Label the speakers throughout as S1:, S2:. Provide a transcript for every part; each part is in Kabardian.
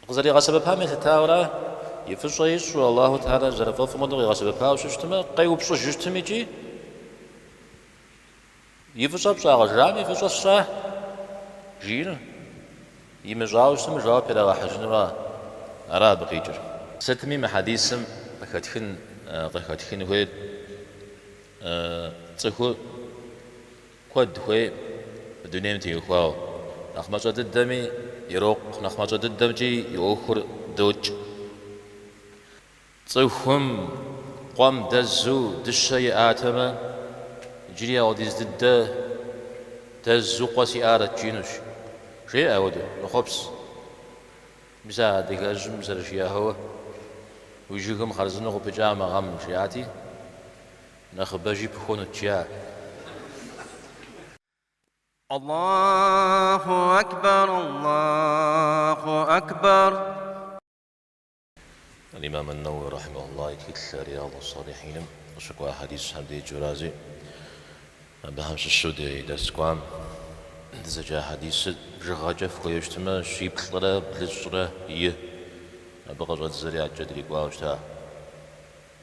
S1: Къызэригъэсэбэпам елъытауэрэ, и фӏыщӏэ ищӏу Аллаху Теалэр зэрыфӏэфӏым хуэдэу къигъэсэбэпауэ щытмэ, къеупщӏыжыщтым икӏи и фӏыщӏэ пщӏа къыжраӏэм и фӏыщӏэ сщӏа? жиӏэр имыщӏауэ щытмэ, жэуап ирагъэхьыжынура? Ара абы къикӏыр? Сытми мы хьэдисым къыхэтхын къыхэтхын хуейр цӏыху Куэд хуейӏым мы дунейм теухуауэ. Нэхъ мащӏэ дыдэми ирокъу, нэхъ мащӏэ дыдэмкӏи и ӏуэхур докӏ. Цӏыхум къуэм дэзу дыщэ иӏатэмэ, иджыри апхуэдиз дыдэ, дэзу къуэ сиӏарэт жиӏэнущ, жеӏэ апхуэдэу, мэхъуапсэ. Мис а адыгэжьым зэрыжиӏауэ, уи жыгым хъарзынэу къыпыкӏа мы гъэм жиӏати. Нэхъыбэжи пыхуэнут жиӏа.
S2: Аллаху акбар, Аллаху акбар.
S1: Аль-Имам ан-Навави рахьимахуллахь и тхылъ Риядус-салихьиным къыщыкӏуа хьэдисхэм деджэрази, абыхэм щыщу ди дерс кӏуам дызэджа хьэдисыр бжыгъэкӏэ фыхуею щытмэ, щиплӏрэ блыщӏрэ и. Абы къыщӏэддзэри адэкӏэ дрикӏуауэ щыта.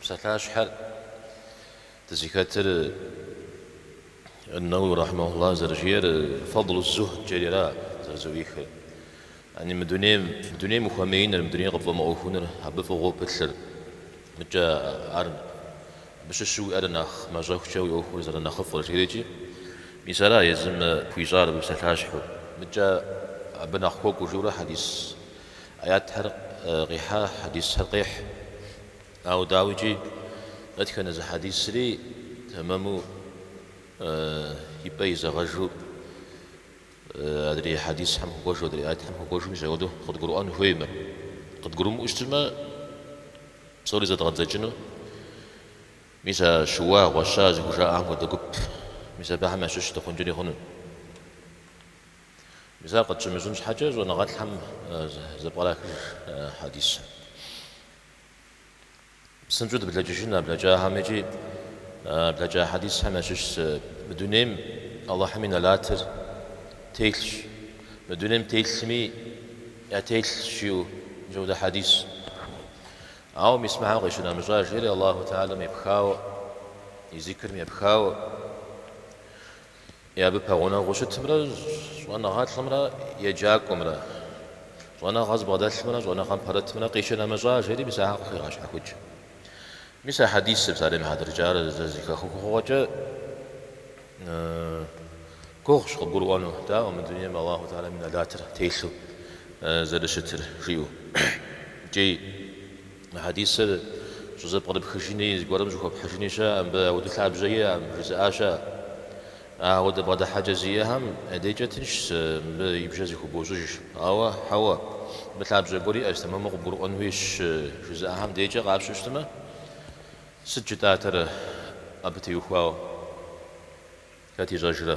S1: Псалъащхьэр дызыхэтыр, Ан-Навави рахьимахуллахь зэрыжиӏэр, Фадл ус-Зухд-кӏэри ара зэрызэӏуихыр? Яни мы дунейм, мы дунейм ухуэмеиныр, мы дунейр къыпфӏэмыӏуэхуныр абы фӏыгъуэу пылъыр. Мыкӏэ ар, абы щыщу уиӏэр нэхъ мащӏэхукӏэ уи ӏуэхур зэрынэхъыфӏыр, жиӏэрикӏи, мис ара езым хуищӏар абы псалъащхьэу? Мыкӏэ абы нэхъ хуэкӏуэжурэ хьэдис Аятхэр къихьа хьэдисхэр къихь. Ауэ дауикӏи, дэтхэнэ зы хьэдисри тэмэму и пӏэ изэгъэжу адрей хьэдисхэм хуэкӏуэжу, адрей аятхэм хуэкӏуэжу мис апхуэдэу къыдгурыӏуэн хуеймэ. Къыдгурымыӏуэу щытмэ, псори зэдгъэдзэкӏыну. Мис а щыуа, гъуэща зыхужаӏэхэм хуэдэ гуп, мис абыхэм ящыщ дыхъункӏэри хъуну. Мис ар къытщымыщӏын щхьэкӏэ щӏэныгъэлӏхэм зэпкърахыж хьэдисыр. Псынщӏэу дыблэкӏыжын а блэкӏахэм икӏи а блэкӏа хьэдисхэм ящыщ зы, Мы дунейм Алыхьым и нэлатыр телъщ, мы дунейм телъми ятелъщ жиӏэу мис апхуэдэ хьэдис. Ауэ мис мыхьэм къищынэмыщӏа жери Алыхьу Теалэм епхауэ, и зикрым епхауэ. е абы пэгъунэгъуу щытымрэ щӏэныгъэлӏымрэ еджакӏуэмрэ, щӏэныгъэ зыбгъэдэлъымрэ щӏэныгъэм пэрытымрэ къищынэмыщӏа, жери мис ахэр къыхегъэщхьэхукӏ. Мис а хьэдисыр псалъэм и хьэтыркӏэ, ар зэ зыхэхыгъуэкӏэ гугъущ къыбгурыӏуэну, дауэ, мы дунейм Аллаху Теалэм и нэлатыр телъу зэрыщытыр, жиӏэу. Икӏи. Мы хьэдисыр щӏызэпкърыпхыжыни, зыгуэрым щӏыхуэпхьыжыни щыӏэкъым, мыбы ауэдэ лъабжьэ иӏэкъым, жызыӏа щыӏэ. А ауэдэ бгъэдыхьэкӏэ зиӏэхэм я дейкӏэ тыншщ, мыбы и бжэ зыхубощӏыж. Ауэ, хьэуэ, мыбы лъабжьэ гуэр иӏэщ, тэмэму къыбгурыӏуэн хуейщ, жызыӏахэм дейкӏэ къапщтэу щытмэ, сыт жытӏатэр абы теухуауэ? Хэт ищӏэжрэ?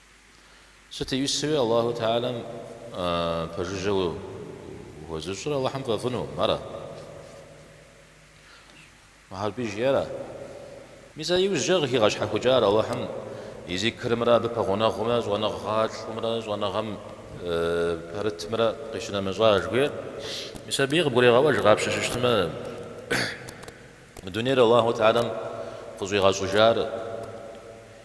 S1: Сыт иусэуи Аллаху Теалэм пэжыжьэ уэзыщӏыр Аллахьым фӏэфӏынукъым, ара? Мухьэрбий жиӏэра? Мис а иужькӏэ къыхигъэщхьэхукӏар Аллахьым и зикрымрэ абы пэгъунэгъумрэ щӏэныгъэлӏымрэ щӏэныгъэм пэрытмрэ къищынэмыщӏа жыхуиӏэр? Мис абыи къыбгурегъэӏуэж къапщтэу щытмэ. Дунейр Аллаху Теалэм къыщӏигъэщӏыжар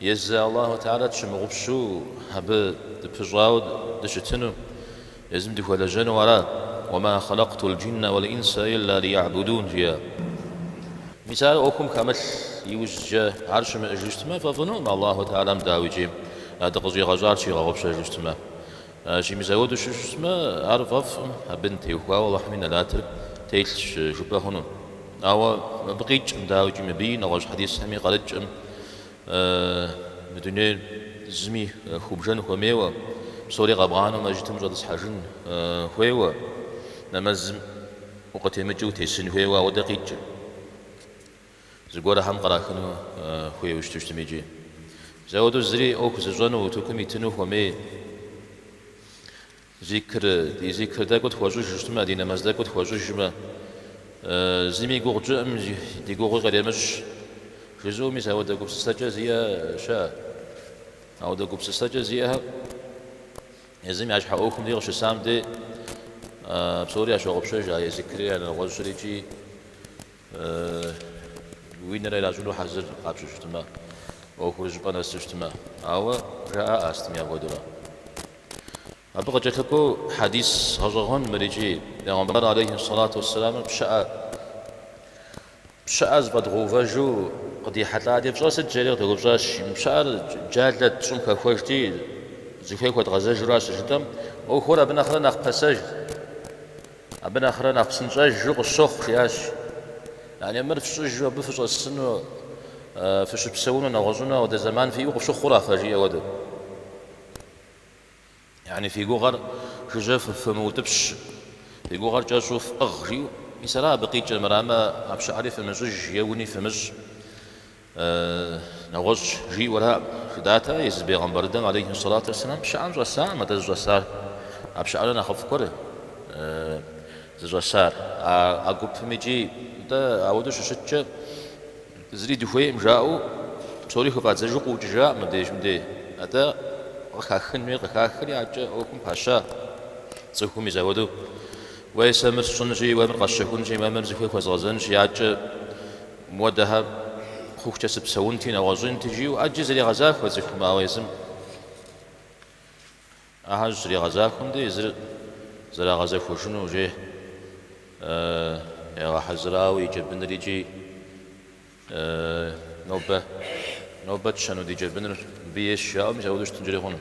S1: езы Аллаху Теалэ тщымыгъупщу абы дыпыщӏауэ дыщытыну, езым дыхуэлэжьэну ара? Уэма хьэлэкътул джиннэ уэл инсэ илля лийгьбудун жиӏа. Мис ар ӏуэхум хэмылъ иужькӏэ ар щымыӏэжу щытмэ, фӏэфӏынукъым Аллаху Теалэм дауикӏи дыкъыщӏигъэщӏар щигъэгъупщэжу щытмэ. Икӏи мис ауэдэу щыщытмэ, ар фӏэфӏкъым, абым теухуауэ Алыхьым и нэлатыр телъщ жыпӏэ хъуну. Ауэ абы къикӏкъым, дауикӏи, мыбыи нэгъуэщӏ хьэдисхэми къарыкӏкъым, Мы дунейр зыми хыубжэн хуэмейуэ, псори къэбгъанэу мэжджытым ущӏэтӏысхьэжын хуейуэ, нэмэзым укъытемыкӏыу утесын хуейуэ, ауэдэ къикӏкъым. Зыгуэрхэм кърахыну хуейуэ щыту щытми икӏи. Ауэдэу зыри ӏуэху зыщӏэну утыкум итыну хуэмей. Зикр, ди зикр тӏэкӏу тхуэщӏыж щытмэ, ди нэмэз тӏэкӏу тхуэщӏыжмэ, зыми и гугъу тщӏыӏым, ди гугъуи къремыщӏ, жызыӏэу мис ауэдэ гупсысэкӏэ зиӏэ щыӏэ. Ауэдэ гупсысэкӏэ зиӏэхэр езым я щхьэ ӏуэхум къыщысам дей псори ящогъупщэж, я зикри, я нэгъуэщӏри икӏи. Уи нэр иращӏыну хьэзыр къапщтэу щытмэ, ӏуэхур щӏыпӏэ нэсу щытмэ. Ауэ жаӏэ астми апхуэдэурэ. Абы къыкӏэлъыкӏуэу хьэдис гъэщӏэгъуэн мыр икӏи, Пегъымбар алейхи сэлату уэссэламыр пщыӏэ пщыӏэ зэфӏэдгъэувэжу къыдихьэлӏати, пщӏэр сыт жери къыдэупщӏащ. Мы пщыӏэр джалэт, щӏым хэхуэжти, зыхуей хуэдгъэзэжуращ щыжытӏэм, ӏуэхур абы нэхърэ нэхъ пасэщ. Абы нэхърэ нэхъ псынщӏэжу къысщохъу, жиӏащ. Яни мыр фщӏыжу абы фыщӏэсыну, фыщыпсэуну, нэгъуэщӏыну ауэдэ зэман фиӏэу къыфщыхъура фэ, жиӏэ хуэдэу. Яни фи гугъэр жыжьэ фымыутӏыпщ, фи гугъэр кӏэщӏу фӏыгъ, жиӏэу. Мис ара абы къикӏыр, мырамэ, а пщыӏэри фымыщӏыж е уни фымыщӏ. Нэгъуэщӏ жиӏэуэраӏым, жыдатэ, езы бегъымбар дыдэм алейхи уссалату уэсселам пщыӏэм щӏэсакъым атӏэ зыщӏэсар. А пщыӏэрэ нэхъыфӏ гуэр зыщӏэсар. А а гупым икӏи нтӏэ ауэдэу щыщыткӏэ зыри дыхуейкъым жаӏэу псори хыфӏадзэжу къыӏукӏыжаӏым мыбдеж мыдей. Атӏэ къыхахын хуей, къыхахри адэкӏэ ӏуэхум паща цӏыхум мис ауэдэу уэй сэ мыр сщӏынщи, уэ мыр къэсщэхунщи, уэ мыр зыхуей хуэзгъэзэнщи, адэкӏэ Муэдэхэ хъухукӏэ сыпсэунти, нэгъуэщӏинти, жиӏэу ӏэджи зригъэзахуэ цӏыхум, ауэ езым ахэр щызригъэзахуэм де езыр зэрагъэзэхуэжыну уже ягъэхьэзырауэ и джэбыныр икӏи нобэ, нобэ тщэну ди джэбыныр мыбы ейщ жаӏэу мис апхуэдэу щытынкӏэри хъуну.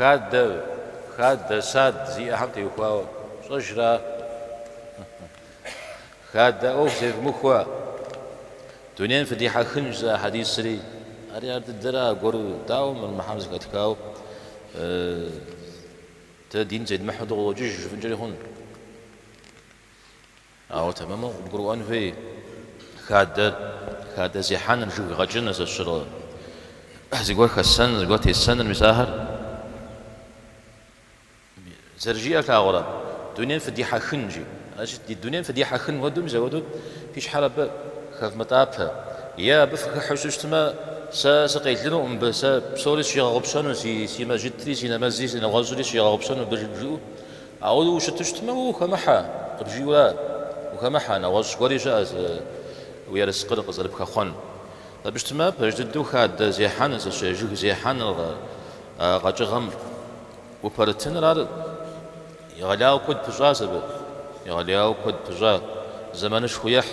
S1: Хадэ, хадэ, сад зиӏэхэм теухуауэ пщӏэжра? Хадэ ӏуэху зевмыхуэ, дунейм фыдихьэхынщ зы хьэдисри. Ари ар дыдэра аргуэру, дауэ мыр Мухьэмэд зэхэтхауэ дэ дин зедмыхьэу дыкъыӏуокӏыж жыфӏэнкӏэри хъуну? Ауэ тэмэму къыбгурыӏуэн хуей хадэр, хадэ зехьэныр, жыг гъэкӏыныр зэщыр зыгуэр хэсэныр, зыгуэр тесэныр, мис ахэр зэрыжиӏэр плъагъурэ, дунейм фыдихьэхын жи. Значит, ди дунейм фыдихьэхын хуэдэу, мис апхуэдэу фи щхьэр абы хэвмытӏапэ. Е абы фыхыхьэу щытмэ, сэ сыкъелынуӏым мыбы, сэ псори сщигъэгъупщэну, си мэжджытри, си нэмэзри, си нэгъуэщӏри сщигъэгъупщэну мыбы жиӏэу, Ауэ ущыту щытмэ, уэ ухэмыхьэ, къыбжиӏэу ара ухэмыхьэ, нэгъуэщӏ гуэри щыӏэ уи ерыскъыр къызэрыпхэхъуэн. Абы щытмэ, пэж дыдэу хадэ зехьэн, зэщэ жыг зехьэныр, къэкӏыгъэм упэрытыныр, ар егъэлеяуэ куэд пыщӏащ абы, егъэлеяуэ куэд пыщӏа, зэманышхуэ ехь.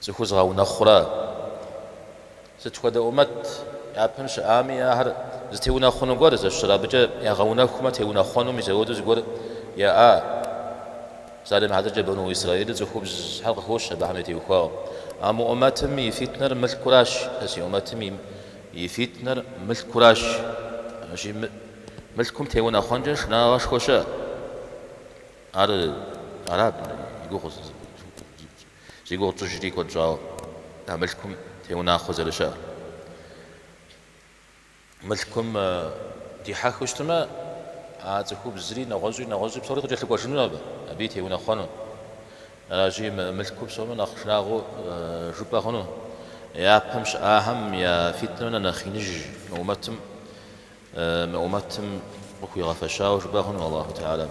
S1: Цӏыху зыгъэунэхъура? Сыт хуэдэ ӏумэт япэм щыӏами, ахэр зытеунэхъуну гуэр зэщыр абыкӏэ ягъэунэхумэ, теунэхъуэну мис ауэду зыгуэр яӏа? Псалъэм и хьэтыркӏэ Бэну Исраилыр цӏыхубзхэр къыхощ абыхэм я теухуауэ. А мы ӏумэтым и фитнэр мылъкуращ. Сэ си ӏумэтым и фитнэр мылъкуращ. Ащи мылъкум теунэхъуэнкӏэ шынагъуэшхуэ щыӏа? Ар араб и гугъу. Зи гугъу тщӏыжри куэд щӏауэ а мылъкум теунэхъуэ зэрыщыӏэр. Мылъкум дихьэхыу щытмэ, а цӏыхубзри, нэгъуэщӏи, нэгъуэщӏи псори къыкӏэлъыкӏуэжыну абы, аби теунэхъуэну. Аращи, мылъкур псомэ нэхъ шынагъуэу жыпӏэ хъуну. Япэм щыӏахэм я фитнэ нэхъ иныжь мы ӏумэтым къыхуигъэфэщауэ жыпӏэ хъуну, Аллаху Теалэм.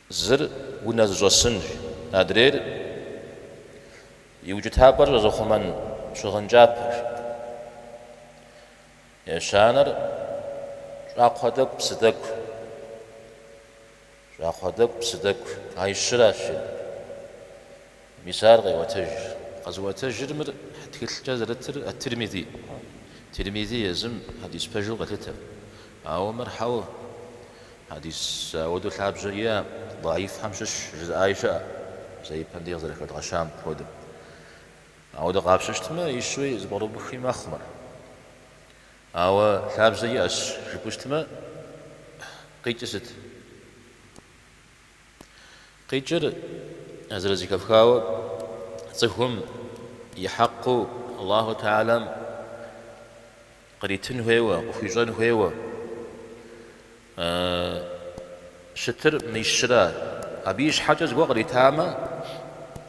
S1: Зыр унэ зыщӏэсынщ, адрейр и укӏытапӏэр щӏэзыхъумэн щыгъын кӏапэщ. Ещанэр щӏакхъуэ тӏэкӏу псы тӏэкӏущ. Щӏакхъуэ тӏэкӏу псы тӏэкӏущ. А щыращи. Мис ар къеуэтэж. Къэзыуэтэжыр мыр тхылъкӏэ зэрытыр Ат-Тирмизи. Тирмизи езым хьэдис пэжу къелъытэ. Ауэ мыр хьэу хьэдис ауэдэу лъабжьэ иӏэм, даифхэм щыщ жызыӏаи щыӏэ, зэ ипэм дей къызэрыхэдгъэщам хуэдэу. Ауэдэ къапщтэу щытмэ, ищӏи зыпӏэрыубыхи мэхъу мыр. Ауэ лъабжьэ иӏэщ жыпӏэу щытмэ, къикӏыр сыт? Къикӏыр зэрызэхэфхауэ цӏыхум и хьэкъыу Аллаху Теалэм къритын хуейуэ, къыхуищӏэн хуейуэ щытыр мис щыра? Абы ищхьэкӏэ зыгуэр къритамэ,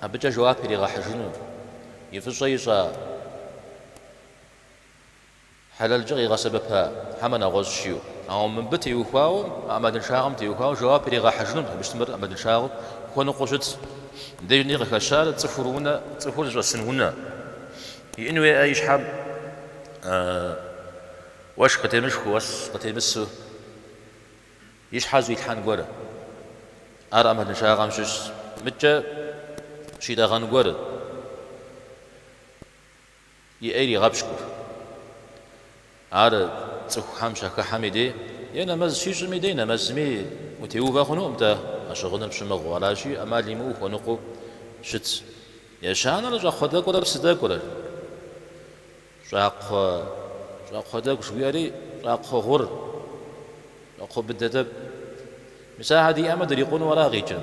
S1: абыкӏэ жэуап иригъэхьыжыну и фӏыщӏэ ищӏа Хьэлэлкӏэ къигъэсэбэпа хьэмэ нэгъуэщӏ жиӏэу. Ауэ мыбы теухуауэ, а ӏэмалыншагъэм теухуауэ жэуап иригъэхьыжынут абы щытмэр ӏэмалыншагъэу хуэныкъуэу щыт. Диным къыхэщар цӏыхур унэ, цӏыхур зыщӏэсын унэ иӏэн хуейуэ и щхьэм уэшх къытемышхыу, уэс къытемысу и щхьэр зыӏуилъхьэн гуэр. Ар ӏэмалыншагъэм щыщщ. Мыдкӏэ щитӏэгъэн гуэр. и ӏей иригъэпщкӏур. Ар цӏыхухэм щахыхьэми дей е нэмэз щищӏми дей нэмэзми утеувэ хъунукъым-тӏэ, а щыгъыныр пщымыгъыу, аращи, ӏэмал имыӏэу хуэныкъуэу щыт. Ещанэр щӏакхъуэ тӏэкӏурэ псы тӏэкӏурэр. Щӏакхъуэ, щӏакхъуэ тӏэкӏу жыхуиӏэри щӏакхъуэ гъур, щӏакхъуэ быдэ тӏэкӏу. Мис ахэр диӏэмэ дырикъуну ара къикӏыр.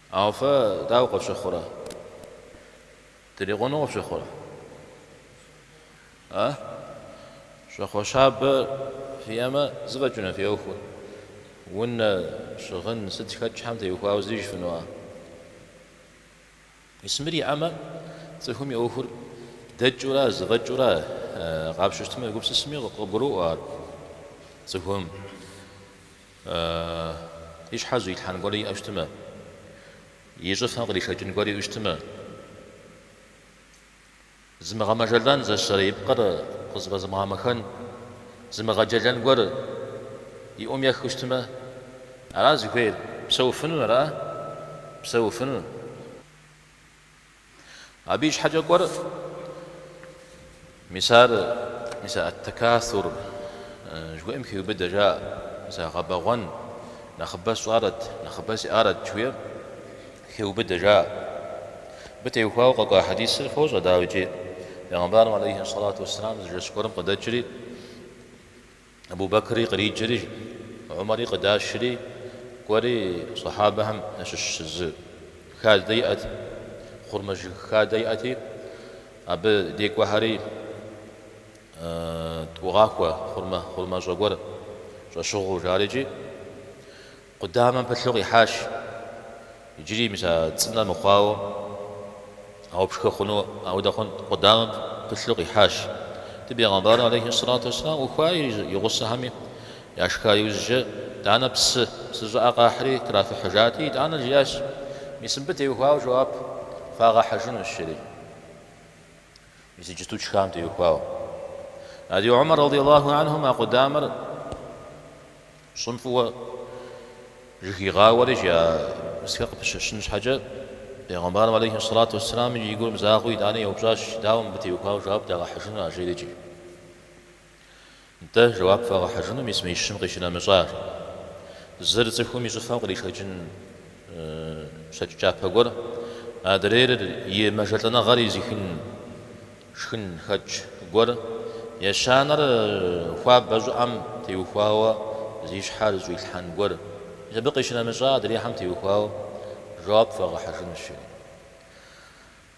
S1: Ауэ фэ дауэ къыфщыхъурэ? Дырикъуну къыфщыхъурэ? А? Щӏакхъуэ щабэ фиӏэмэ, зэфӏэкӏыну фи ӏуэхур? Унэ, щыгъын, сыт хэт щхьэм теухуауэ зыри жыфӏэну? А? Мис мыр иӏэмэ, цӏыхум и ӏуэхур дэкӏыу ара, зэфӏэкӏыу ара къапщтэу щытмэ, егупсысми къыгуроӏуэ ар цӏыхум. И щхьэ зыуилъхьэн гуэри иӏэу щытмэ, и щӏыфэ къришэкӏын гуэри иӏэу щытмэ, зымыгъэмэжэлӏэн зэщэрэ и пкъыр къызэфӏэзымыгъэмэхэн, зымыгъэджэлэн гуэр и ӏум ехыу щытмэ, ара зыхуейр? Псэуфыну ара? Псэуфыну. Абы и щхьэкӏэ кӏуэр, мис ар, мис а ат-такасур жыхуиӏэм хиубыдэ, жаӏэ, мис а гъэбэгъуэн, нэхъыбэ сщӏарэт, нэхъыбэ сиӏарэт жыхуиӏэр хиубыдэ, жаӏэ. Абы теухуауэ къэкӏуа хьэдисыр фощӏэ, дауикӏи, Пэйгъэмбарым алейхи ссалату уэсселам зы жэщ гуэрым къыдэкӏри, Абу-Бэкри къриджэри, Умэри къыдашри, кӏуэри Сахьабэхэм ящыщ зы хадэ иӏэт, хъурмэ жыг хадэ иӏэти, абы дей кӏуэхэри тӏугъахуэ хъурмэ, хъурмэщӏэ гуэр щӏэщыгъуу, жарикӏи. Къудамэм пылъу къихьащ. Иджыри мис а цӏынэ мыхъуауэ ауэ пшхы хъуну аудэ хъунт. Къудамэм пылъу къихьащ. Ди Бегъымбарым алейхи ссалату уэсселам ӏухуа и гъусэхэми яшха иужькӏэ, тӏанэ псы, псы щӏыӏэ къахьри трафыхьыжати, итӏанэ жиӏащ, Мис мыбы теухуауэ жэуап фагъэхьыжынущ, жери. Иджыпсту тшхам теухуауэ, Ади Умар радияллаху анхум а къудамэр щӏым фӏыуэ жьэхигъауэрикӏи а пызхэр къыпыщэщын щхьэкӏэ, пегъэмбарым алейхи сэлату уэсселам и гур мызагъэу итӏани, еупщӏащ, Дауэ мыбы теухуауэ жэуап дагъэхьыжыну а жерикӏи? Нтӏэ, жэуап фагъэхьыжыну мис мы ищым къищынэмыщӏар. Зыр цӏыхум и щӏыфэм къришэкӏын щэкӏ кӏапэ гуэр, адрейр и мэжэлӏэныгъэр изихын шхынхэкӏ гуэр, ещанэр хуабэ щӏыӏэм теухуауэ зи щхьэр зыуилъхьэн гуэр. Мис абы къищынэмыщӏа адрейхэм теухуауэ жэуап фагъэхьыжынущ, жери.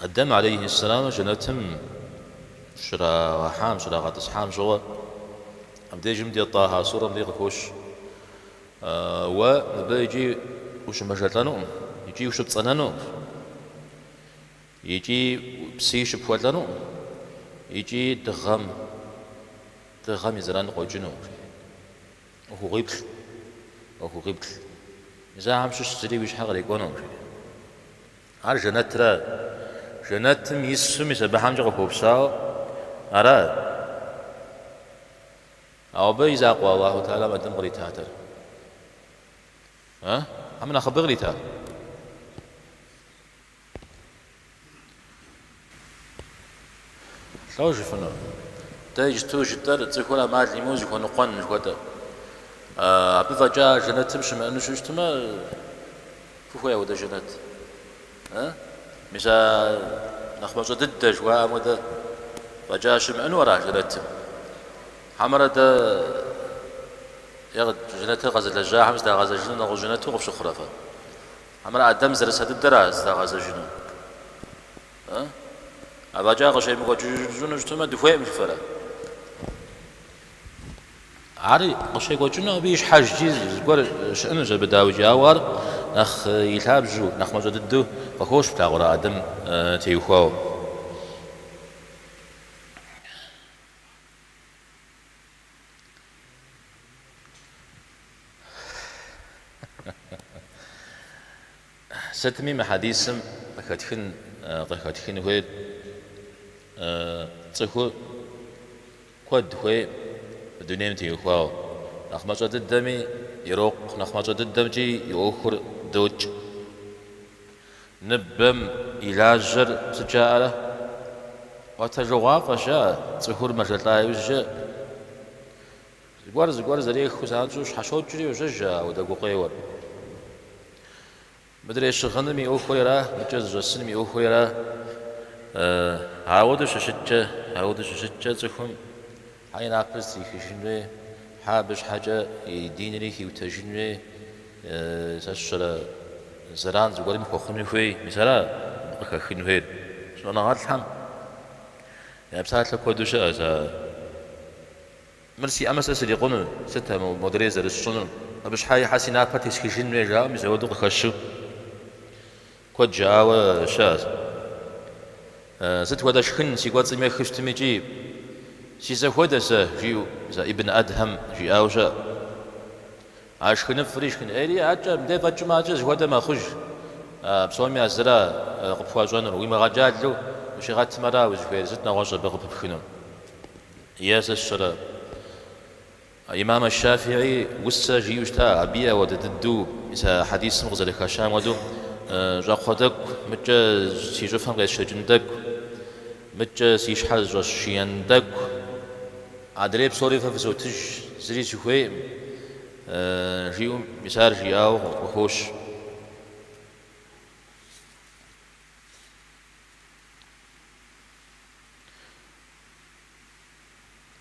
S1: Адэм алейхьэссэламыр жэнэтым щрагъэхьам, щрагъэтӏысхьам щыгъуэ, абдежым дей Тӏахьэ сурэм дей къыхощ, Уэ мыбы икӏи ущымэжэлӏэнукъым, икӏи ущыпцӏэнэнукъым, икӏи псыи щыпхуэлӏэнукъым, икӏи дыгъэм, дыгъэм и зэран къокӏынукъым, жи. ӏуэхугъуиплӏ, ӏуэхугъуиплӏ, мис ахэм щыщ зыри уи щхьэ кърикӏуэнукъым, жери. Ар жэнэтрэ, жэнэтым ису мис абыхэмкӏэ къыхуэупсауэ ара? Ауэ абы и закъуэ Аллаху тэӏалэм Адэм къритатэр? Э? Абы нэхъыбэ кърита? Лӏо жыфыну? Дэ иджыту жытӏэр цӏыхур амал имыӏэу зыхуэныкъуэн жыхуэтӏэ. Абы фӏэкӏа жэнэтым щымыӏэну щыщтмэ, фыхуей ауэдэ жэнэт? Мис а нэхъ мащӏэ дыдэ жыхуаӏэм хуэдэ фӏэкӏа щымыӏэну ара жэнэтым? Хьэмэрэ дэ е жэнэтыр къэзылэжьахэм здагъэзэжыну нэгъуэщӏ жэнэту къыфщыхъурэ фэ? Хьэмэрэ Адэм зэрыса дыдэра зыдагъэзэжыну? Ыы? Афӏэкӏа къыщемыкӏуэкӏыжыну щытмэ, дыхуейкъым жыфӏэрэ? Ар къыщекӏуэкӏыну абы ищхьэжкӏи зыгуэр щыӏэнущ абы, дауикӏи, ауэ ар нэхъ и лъабжьу, нэхъ мащӏэ дыдэу къыхощ плъагъурэ Адэм теухуауэ. Сытми мы хьэдисым къыхэтхын къыхэтхын хуейр цӏыхур куэд хуей дунейм теухуауэ. Нэхъ мащӏэ дыдэми ирокъу, нэхъ мащӏэ дыдэмкӏи и ӏуэхур докӏ. Ныбэм и лажьэр сыт жаӏэрэ? Ӏуэтэжыгъуафӏэщ жаӏэ, цӏыхур мэжэлӏа иужькӏэ зыгуэр зыгуэр зэрехыу занщӏэу щхьэщокӏри йожьэж ауэдэ гукъеуэр. Мыдрей щыгъыным и ӏуэхуи ара, мыкӏэ зыщӏэсыным и ӏуэхуи ара ауэдэу щыщыткӏэ, ауэдэу щыщыткӏэ цӏыхум Хьэ и напэр зытрихыжын хуей, хьэ абы щхьэкӏэ и динри хиутэжын хуей, сэ сщӏэрэ зэран зыгуэрым хуэхъуну хуей, мис ара абы къыхэхын хуейр? Щӏэныгъэлӏхэм я псалъэ куэду щыӏэщ ар. Мыр сиӏэмэ сэ срикъуну, сыт а модрей зэрысщӏынур? Абы щхьэкӏэ хьэ си напэр тесхыжын хуей жаӏэу мис ауэду къыхэщу. Куэд жыӏауэ щыӏэщ. Сыт хуэдэ шхын си кӏуэцӏым ехы щытмикӏи, си зэхуэдэ сэ, жиӏэу зэ Ибн Адхьэм жиӏауэ щыӏэт. А шхыныфӏри шхын ӏейри адкӏэ, мыдэ фӏэкӏмэ адкӏэ зыхуэдэ мэхъуж. А псоми а зыра къыпхуащӏэнур, уимыгъэджалэу ущигъэтымэ ара узыхуейр, сыт нэгъуэщӏ абы къыпыпхыну? Е сэ сщӏэрэ? Имам аш-Шафиӏи усэ жиӏэу щыта, абыи ауэдэ дыдэу мис а хьэдисым къызэрыхэщам хуэдэу, Щӏакхъуэ тӏэкӏу, мыдкӏэ си щӏыфэм къесшэкӏын тӏэкӏу, мыдкӏэ си щхьэр зыщӏэсшиен тӏэкӏу, адрей псори фэ фызотыж, зыри сыхуейкъым, жиӏэу мис ар жиӏауэ къыхощ.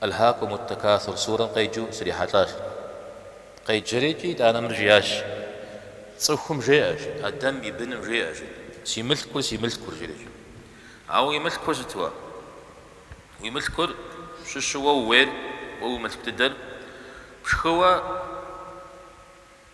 S1: Альхакум уттакасур сурэм къеджэу срихьэлӏащ. Къеджэри, жи, итӏанэ мыр жиӏащ, Цӏыхум жеӏэ, жи, Адэм и быным жеӏэ, жи, Си мылъкур, си мылъкур, жречӏэ. Ауэ уи мылъкур сыт уэ? Уи мылъкур, щыщу уэ ууейр, уэ уи мылъку дыдэр, пшхыуэ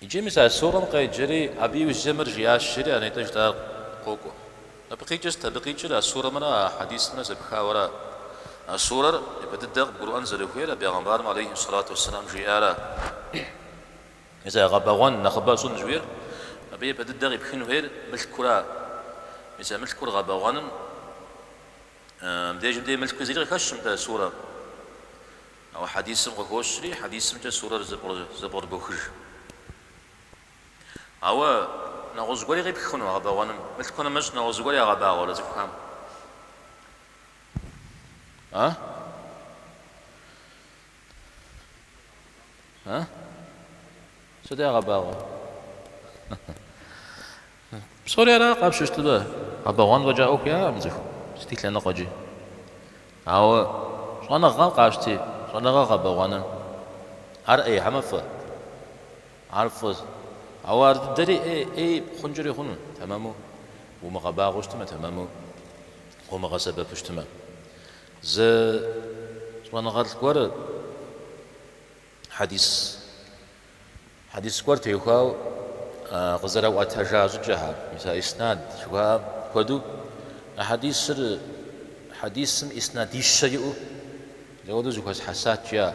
S1: Иджы мис а сурэм къеджэри, абы иужь мыр жиӏащ, жери а нетӏэ жытӏар къокӏуэ. Мыбы къикӏыр сыт? Абы къикӏыр а сурэмрэ а хьэдисымрэ зэпхауэра? А сурэр япэ дыдэ къыбгурыӏуэн зэрыхуейр а бегъымбарым алейхьи сэлату уэсселам жиӏара? Мис а гъэбэгъуэн нэхъыбэ щӏын жиӏэр абы япэ дыдэ къипхын хуейр мылъкура? Мис а мылъкур гъэбэгъуэным мыдежым дей мылъкуи зыри къыхэщкъым нтӏэ сурэм? Ауэ хьэдисым къыхощри, хьэдисымкӏэ сурэр зэпкърыбохыж. Ауэ нэгъуэщӏ гуэри къипх хъуну а гъэбэгъуэным? Мылъку нэмыщӏ нэгъуэщӏ зыгуэр ягъэбагъуэрэ цӏыхухэм? А? А? Сыт ягъэбагъуэр? Псори ара къапщтэу щытмэ, гъэбэгъуэн фӏэкӏа ӏуэху яӏэкъым цӏыхум, сыти лъэныкъуэкӏи. Ауэ щӏэныгъэм къащти щӏэныгъэ гъэбэгъуэным, ар ӏей хьэмэ фӏы. Ар фӏыщ. Ауэ ар дыдэри ӏей хъункӏэри хъуну, тэмэму умыгъэбагъуэу щытмэ, тэмэму къыумыгъэсэбэпу щытмэ. Зы щӏэныгъэлӏ гуэр хьэдис. Хьэдис гуэр теухуауэ къызэрэӏуэтэжа щӏыкӏэхэр, мис а иснад жыхуаӏэм хуэдэу а хьэдисыр хьэдисым иснадищэ иӏэу зэхуэдэу зыхуэсхьэсат, жиӏа,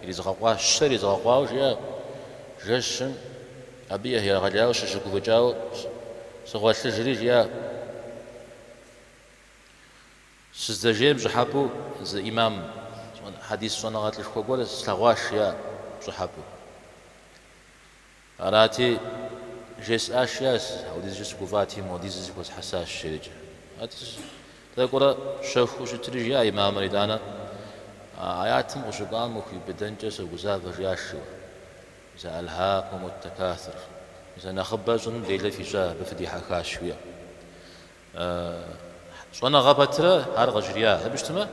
S1: иризгъэкъуа, щэ иризгъэкъуауэ жиӏа жэщым, абы егъэлеяуэ сыщыгуфӏыкӏауэ сыгъуэлъыжри жиӏа. Сыздэжейм пщӏыхьэпӏэу зы ӏимам хьэдис щӏэныгъэлӏышхуэ гуэр слъэгъуащ, жиӏа, пщӏыхьэпӏэу. Арати, жесӏащ, жиӏа, апхуэдизкӏэ сыгуфӏати, модиз зыхуэсхьэсащ, жеӏэкӏэ. Тӏэкӏурэ щэхуу щытри, жиӏа ӏимамыр, Итӏанэ, а аятым къыщыкӏуам ухиубыдэнкӏэ согузавэ, жиӏащ, жиӏэу. Мис Альхӏакумут такассур, мис а нэхъыбэ щӏыным делэ фищӏа, абы фыдихьэхащ, жиӏэу. Щӏэныгъэ пэтырэ ар къыжриӏа? Хьэ жыпӏэу щытмэ,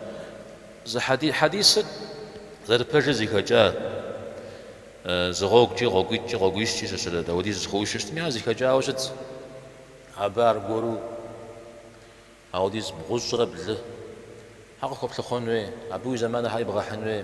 S1: зы хьэдисыр зэрыпэжыр зихэкӏа зы гъуэгукӏи, гъуэгуитӏкӏи, гъуэгуищкӏи щыщырэ дауэдиз зыхуэушу щытми, ар зихэкӏауэ щытт. Абы аргуэру ауэдиз бгъущӏрэ блы хьэ къыхуэплъыхъуэн хуей, абы уи зэманыр хьэ ибгъэхьын хуей.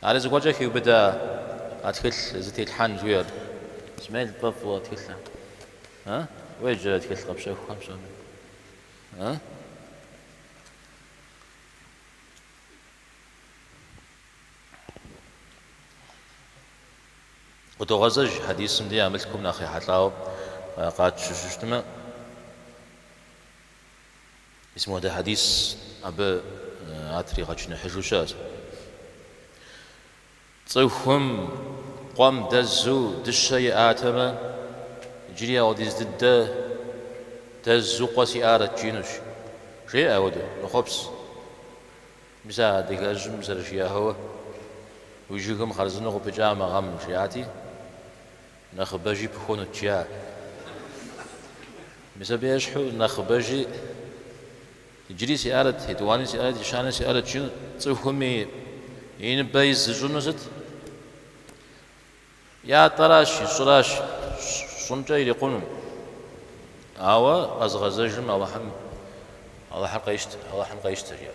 S1: Ари зыгуэркӏэ хиубыдэ а тхылъ зытелъхьэн жыхуиӏэр? Смел пӏэфӏу а тхылъыр. А? Уеджэ а тхылъ къэпщэхухэм псоми. А? Къыдогъэзэж хьэдисым дей а мылъкум нэхъ ехьэлӏауэ къатщыщыщтмэ, Мис муэдэ хьэдис абы ар тригъэчыныхьыжу щыӏэщ. Цӏыхум къуэм дэзу дыщэ иӏатэмэ, иджыри ауэдиз дыдэ дэзу къуэ сиӏарэт жиӏэнущ, жеӏэ ауэдэ мэхъуапсэ. Мис а адыгэжьым зэрыжиӏэгъауэ, уи жыгым хъарзынэу къыпыкӏа мы гъэм, жиӏати. Нэхъыбэжи пыхуэнут, жиӏа. Мис абы ещхьу нэхъыбэжи иджыри сиӏарэт, етӏуани сиӏарэт, ещани сиӏарэт жиӏэну. Цӏыхум и и ныбэ из зыщӏыну сыт? Ятӏэращ, и щӏыращ, щӏымкӏэ ирикъуну. Ауэ къэзыгъэзэжым Алыхьым, Алыхьыр къещтэ, Алыхьым къещтэ, жиӏэ.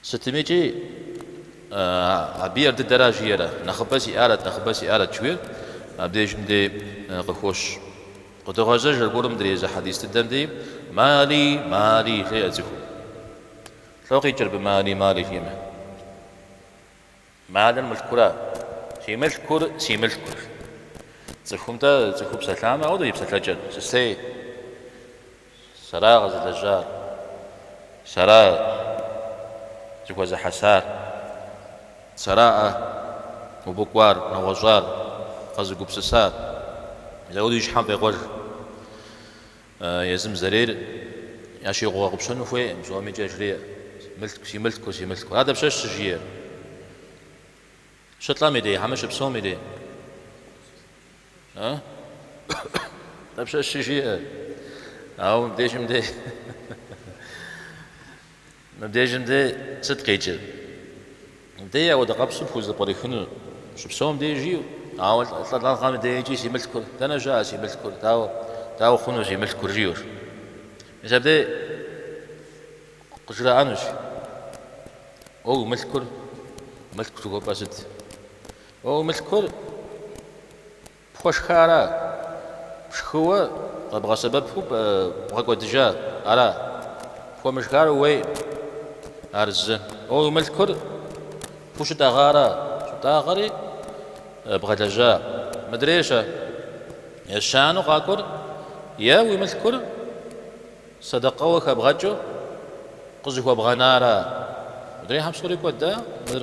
S1: Сытымикӏи, абы ар дыдэра жиӏэрэ, нэхъыбэ сиӏарэт, нэхъыбэ сиӏарэт жыхуиӏэр абдежым дей къыхощ. Къыдогъэзэж аргуэрым дэр езы хьэдис дыдэм дей Мали, мали, жеӏэ цӏыхум. Лӏо къикӏыр абы мали, мали жиӏэмэ. Малыр мылъкура? Си мылъкур си мылъкур. Цӏыхум-тӏэ цӏыхуу псэлъамэ, ауэдэ и псэлъэкӏэр сысей. Сэра къэзылэжьар. Сэра зыхуэзыхьэсар. Сэра абы кӏуар, нэгъуэщӏар, къэзыгупсысар. Мис ауэдэ и щхьэм къекъуэж. Езым зэрейр ящигъэгъупщэну хуейкъым, псомикӏ яжреӏэ, мылъку, си мылъку, си мылъку. Ар дапщэщ щыжиӏэр? Щылӏэм и дей, хьэмэ щыпсэум и дей. А? Дапщэщ щыжиӏэр? Ауэ мыбдежым дей. Мыбдежым дей сыт къикӏыр? Дэ ауэдэ къабзэу пхузэпкърихыну щыпсэум дежи, ауэ лӏэныгъэм деикӏи си мылъкур, дэнэ щыӏэ си мылъкур, дауэ, дауэ хъуну си мылъкур жиӏэр? Мис абдей къыжраӏэнущ, Уэ уи мылъкур, мылъку жыхуэпӏэр сыт? Уэ уи мылъкур Пхуэшхара? Пшхыуэ къэбгъэсэбэпу бгъэкӏуэдыжа ара? Пхуэмышхар уейкъым ар зы. Е уи мылъкур пхущытӏэгъа ара? Щыптӏагъэри бгъэлэжьа? Мыдрей-щэ ещанэу къакӏуэр. Е уи мылъкур сэдэкъэуэ хэбгъэкӏыу къызыхуэбгъэна ара? Мыдрейхэм псори кӏуэда мыр.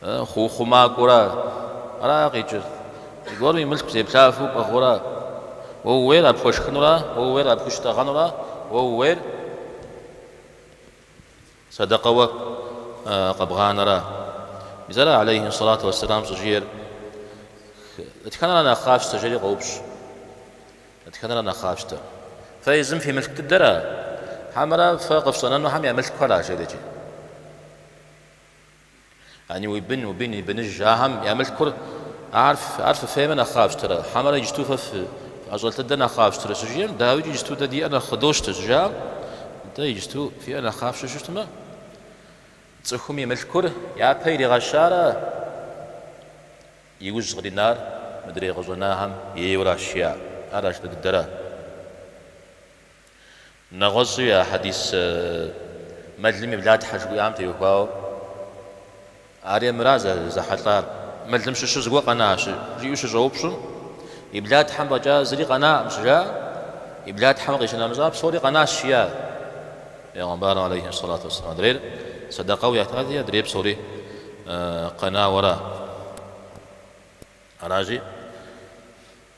S1: Хъу, хъумакӏуэра ара къикӏыр? Зыгуэрым и мылъку зеплъафэу къэхъура? Уэ ууейр а пхуэшхынура? Уэ ууейр а пхущытӏэгъэнура? Уэ ууейр сэдэкъэуэ къэбгъанэра? Мис ара алейхи сэлату уэсселам щӏыжиӏэр? Дэтхэнэра нэхъ къафщтэр? жери къоупщӏ. Дэтхэнэра нэхъ къафщтэр? Фэ езым фи мылъку дыдэра? Хьэмэрэ фэ къыфщӏэнэнухэм я мылъкухэра? жери икӏи. Яни уи бын, уи бын и быныжхэм я мылъкур, ар, ар фыфеймэ нэхъ къафщтэрэ, хьэмэрэ иджыту фэ фы, фӏэщӏэлъ дыдэр нэхъ къафщтэрэ щыжиӏэм, дауи иджыту дэ диӏэр нэхъ къыдощтэ щыжаӏэм, нтӏэ, иджыту фиӏэр нэхъ къафщтэу щытмэ, цӏыхум и мылъкур япэ иригъэщара иужь къринар мыдрей къыщӏэнахэм ейуэ аращ жиӏа, ар ашынэ дыдэра? Нэгъуэщӏи а хьэдис мэлым и блатхьэ жыхуиӏам теухуауэ ари мыра зэхьэлӏар? Мэлым щыщу зыгуэр къэнащ, жиӏэу щыщӏэупщӏым, и блатхьэм фӏэкӏа зыри къэнакъым щыжаӏэ, и блатхьэм къищынэмыщӏа псори къэнащ жиӏа? Пейгъэмбарым алейхи ссалату уэсселам адрейр сэдэкъэу ятати, адрейр псори къэнауэра? Аращи.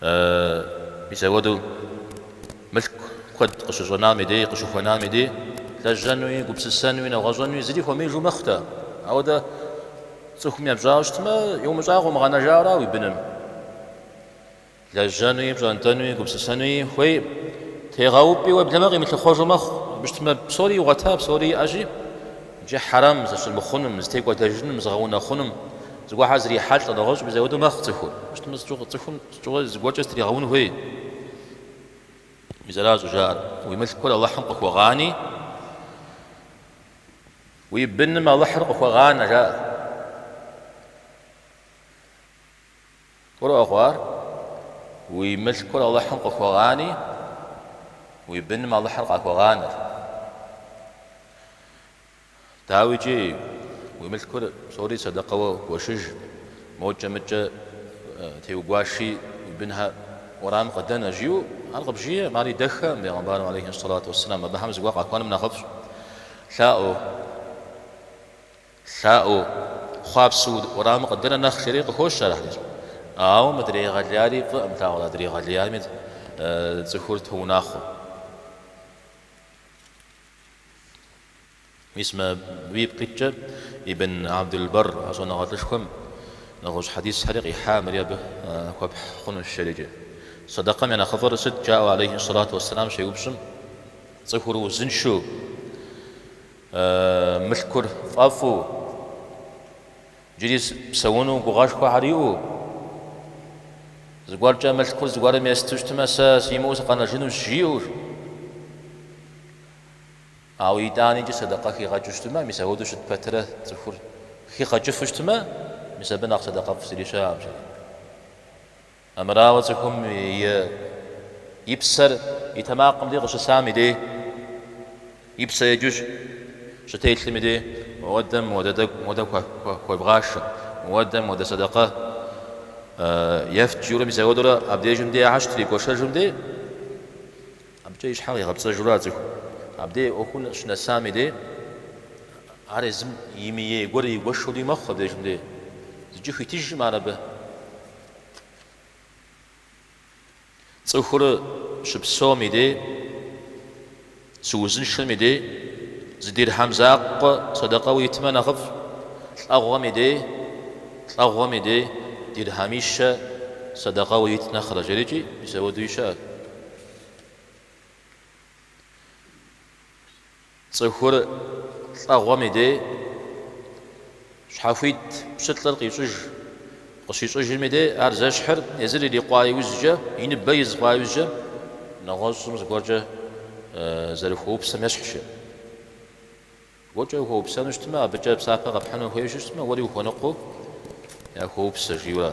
S1: Мис апхуэдэу мылъку куэд къыщыщӏэнам и дей, къыщыхуэнам и дей, лэжьэнуи, гупсысэнуи, нэгъуэщӏэнуи зыри хуэмеижу мэхъу-тӏэ. Ауэдэ цӏыхум епщӏауэ щытмэ, иумыщӏа къыумыгъэнэжа ара уи быным? Лэжьэнуи, пщӏэнтӏэнуи, гупсысэнуи хуей, тегъэупӏи уеблэмэ къимылъыхъуэжу мэхъу. Абы щытмэ, псори игъуэта, псори иӏэщи. Иджы хьэрэм зыщӏимыхъунум, зытекӏуэдэжынум, зыгъэунэхъунум зыгуэрхэр зрихьэлӏэ нэгъуэщӏ мис апхуэдэу мэхъу цӏыхур. Абы щытмэ, сыт цӏыхум щӏыуэ зыгуэркӏэ зытригъэун хуей? Мис аращ щӏыжаӏэр. Уи мылъкур Алыхьым къыхуэгъани, уи быным Алыхьыр къыхуэгъанэ, жаӏэ. Гурыӏуэгъуэ ар, Уи мылъкур Алыхьым къыхуэгъани, уи быным Алыхьыр къахуэгъанэр. Дауи икӏи, уи мылъкур псори сэдэкъэуэ гуэшыж, мокӏэ-мыкӏэ теугуаши уи бынхэр уэрамым къыдэнэ, жиӏэу ар къыбжиӏэм, ар идэххэкъым, бегъымбарым алейхи сэлату уэсселам, абыхэм зыгуэр къахуэным нэхъыфӏщ, лъаӏуэу. Лъаӏуэу, хъуапсэу уэрамым къыдэнэ нэхъ лъэри къыхощ ар абыкӏэ. Ауэ мыдрей гъэлеяри фӏыӏым, лъагъуэ адрей гъэлеями цӏыхур тоунэхъуэ. Мис мыбы ипкъыткӏэ Ибн Абдул-Барр а щӏэныгъэлӏышхуэм нэгъуэщӏ хьэдисхэри къихьа, мыри абы хуэпхь хъунущ жери-кӏи. Сэдэкъэм я нэхъыфӏыр сыт? жаӏэу алейхи сэлату уэсэлам щеупщӏым, цӏыхур узыншэу. Мылъкур фӏэфӏу, джыри псэуну гугъэшхуэхэр иӏэу, зыгуэркӏэ мылъкур зыгуэрым есту щытмэ, сэ симыӏэу сыкъэнэжынущ, жиӏэу. Ауэ итӏаникӏи сэдэкъэ хигъэкӏыу щытмэ, мис апхуэдэу щыт пэтырэ цӏыхур хигъэкӏыфу щытмэ, мис абы нэхъ сэдэкъэфӏ зыри щыӏэкъым. Амырауэ цӏыхум и псэр и тэмакъым дей къыщысам и дей, и псэр еджу щытелъым и дей, Мыуэдэм мыуэдэ хуэвгъашэ, мыуэдэм мыуэдэ сэдэкъэ ефт жиӏэурэ мис апхуэдэурэ абдежым дей яхьэщт игуэшыжым дей. Абыкӏэ и щхьэр къигъэпцӏэжурэ а цӏыхум абдей ӏуэхум щынэсам и дей, ар езым имыей гуэр игуэшури мэхъу абдежым дей, зыкӏи хуитыжкъым ар абы. Цӏыхур щыпсэум и дей, щыузыншэм и дей, зы дирхьэм закъуэ сэдэкъэу итмэ нэхъыфӏщ, лӏэгъуэм и дей, лӏэгъуэм и дей, дирхьэмищэ сэдэкъэу ит нэхърэ, жери-кӏи, мис ауэдуи щыӏэщ. Цӏыхур лӏэгъуэм и дей щхьэхуит пщылӏыр къищӏыж. Къыщищӏыжым и дей ар зэщхьыр езыр ирикъуа иужькӏэ, и ныбэ из хъуа иужькӏэ, нэгъуэщӏым зыгуэркӏэ зэрыхуэупсэм ещхьщи. Зыгуэркӏэ ухуэупсэну щытмэ, абыкӏэ псапэ къэпхьыну хуейуэ щытмэ, уэри ухуэныкъуэу яхуэупсэ, жиӏэурэ.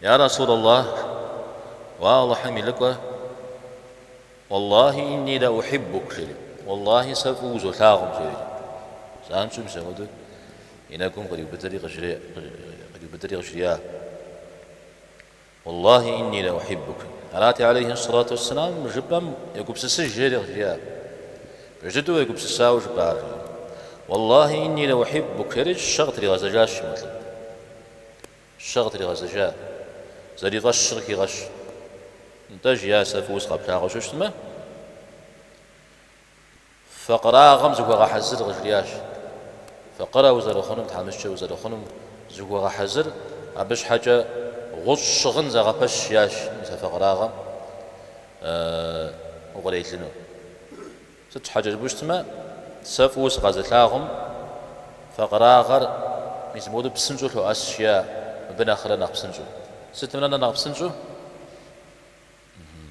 S1: Я Расул Аллах, уэ Аллахьым и лӏыкӏуэ, Уаллахи инни ла ухиббук, жери, Уаллахи сэ фӏыуэ узолъагъум, жери, занщӏэу мис апхуэдэу и нэгум къриубыдэри къыжрия, Уаллахи инни ла ухиббук. Арати алейхи ссалату уэсселам жыпӏэм егупсысыж, жери къыжриар. Пэж дыдэу егупсысауэ жыпӏар, жери, Уаллахи инни ла ухиббук, жери щэ къытригъэзэжащ мо лӏым. Щэ къытригъэзэжа, зэрифӏэщыр къыхигъэщ. Нтӏэ, жиӏа, сэ фӏыуэ сыкъэплъагъуу щытмэ, факъырагъэм зыхуэгъэхьэзыр, къыжриӏащ. Факъырэ узэрыхъунум, тхьэмыщкӏэ узэрыхъунум зыхуэгъэхьэзыр, абы щхьэкӏэ гъущӏ щыгъын зэгъэпэщ, жиӏащ, мис а факъырагъэм укърелыну. Сыт щхьэкӏэ жыпӏэу щытмэ, сэ фӏыуэ сыкъэзылъагъум, факъырагъэр мис мыпхуэдэу псынщӏэу лъоӏэс, жиӏэ мыбы нэхърэ нэхъ псынщӏэу. Сытым нэ нэхъ псынщӏэу?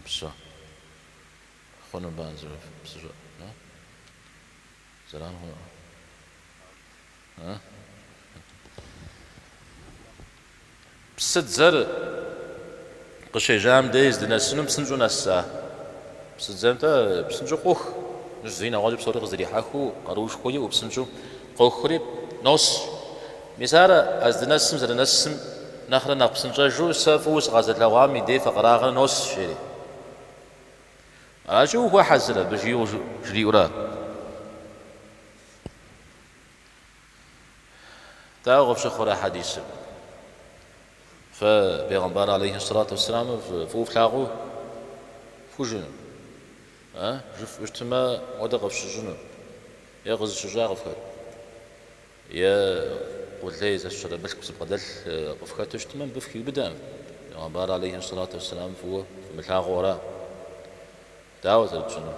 S1: Псо. Хъуну ба зы псыщӏэ? Зэран хъуну. Псыдзэр къыщежьам дей здынэсынум псынщӏэу нэса. Псыдзэ нтӏэ псынщӏэу къох, мыщ зыи нэгъуэщӏи псори къызэрихьэхыу, къаруушхуэ иӏэу псынщӏэу къохри нос. Мис ар а здынэсым зэрынэсым нэхърэ нэхъ псынщӏэжу сэ фӏыуэ сыкъэзылъэгъуам и дей факъырагъэр нос, жери. Аращи, ухуэхьэзыр абы, жиӏэу жриӏэурэ. Дауэ къыпщыхъурэ хьэдисыр? Фэ Пегъымбар алейхи сэлату уэсселамыр фӏыуэ флъагъуу фхужыӏэнут, а? Жыфӏэу щытымэ мыгъуэдэ къыфщыщӏынут, е къызыщыщӏа къыфхэт, е къулей зэщыщэрэ мылъку зыбгъэдэлъ къыфхэту щытымэ мыбы фыхиубыдэкъым. Пегъымбар алейхи сэлату уэсселамыр фӏыуэ фымылъагъуу ара? Дауэ зэрытщӏынур?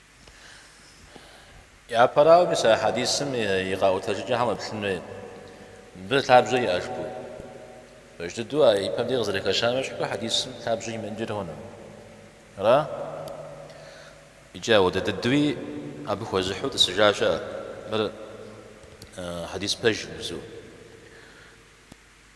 S1: Япэрауэми, сэ а хьэдисым и къаӏуэтэжыкӏэхэм уеплъын хуейт. Мыбы лъабжьэ иӏэ жыпӏэу. Пэж дыдэу а ипэм дей къызэрыхэщам ещхьу, хьэдисым лъабжьэ имыӏэнкӏэ хъуну? Ара? Икӏи ауэдэ дыдэуи абы хуэзыхьу тӏысыжа щыӏэт. Мыр хьэдис пэжыбзэу.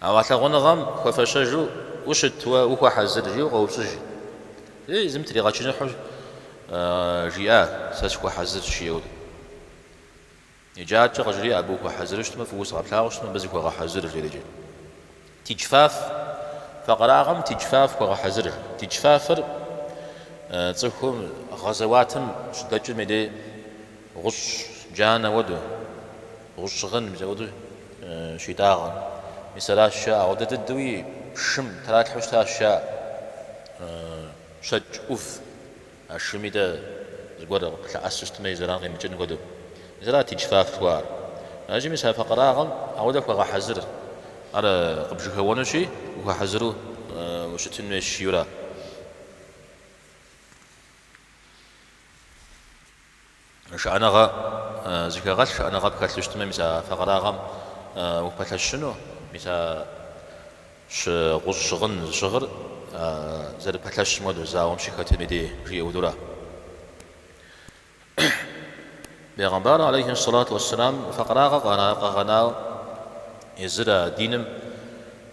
S1: А уэ лъагъуныгъэм хуэфэщэжу ущыт уэ ухуэхьэзыр? жиӏэу къэупщӏыж. Езым тригъэчыныхьу жиӏа, сэ сыхуэхьэзырщ, жиӏэу. Иджы адэкӏэ къыжриӏэ, абы ухуэхьэзыру щытмэ, фӏыуэ сыкъэплъагъу щытмэ, абы зыхуэгъэхьэзыр, жреӏэж. Тиджфаф, факъырагъэм тиджфаф хуэгъэхьэзыр. Тиджфафыр цӏыхум гъэзэуатым щыдэкӏым и дей, Гъущӏ джанэ уэду, гъущӏ щыгъын мис ауэду щитӏагъэр. Мис аращ жаӏэ, ауэдэ дыдэуи шым тралъхьэу щытащ жаӏэ. Щэкӏ ӏув а шым и дей зыгуэр къылъэӏэсу щытмэ, и зэран къимыкӏын хуэдэу. Мис арат тиджфаф жыхуаӏэр. Ащи мис а факъырагъэм ауэдэ хуэгъэхьэзыр. Ар къыпжьэхэуэнущи, ухуэхьэзыру ущытын хуейщ, жиӏэурэ. Шыӏэныгъэ зыхэгъэлъ, шыӏэныгъэ пхэлъу щытмэ, мис а факъырагъэм упэлъэщыну, мис а щы гъущӏ щыгъын зыщыгъыр зэрыпэлъэщым хуэдэу зауэм щыхэтым и дей жиӏэ. Ауэду ара? Бегъымбар алейхи ссалату уэсселам факъырагъэ къэгъэнау езыр а диным?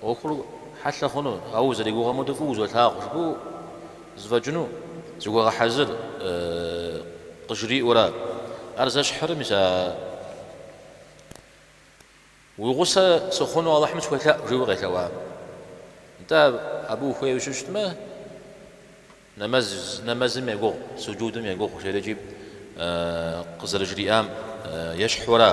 S1: ӏуэхур хьэлъэ хъуну, ауэ узэригугъэм хуэдэу фӏыуэ узолъагъу жыпӏэу зэфӏэкӏыну зыхуэгъэхьэзыр, къыжриӏэурэ, ар зэщхьырэ, мис а уи гъусэ сыхъуну Алыхьым схуелъэӏу, жиӏэуи къелъэӏуа. Нтӏэ, абы ухуейуэ щыщытмэ, нэмэзым егугъу, суджудым егугъу, жиӏэрикӏи къызэрыжриӏам ещхьу ара?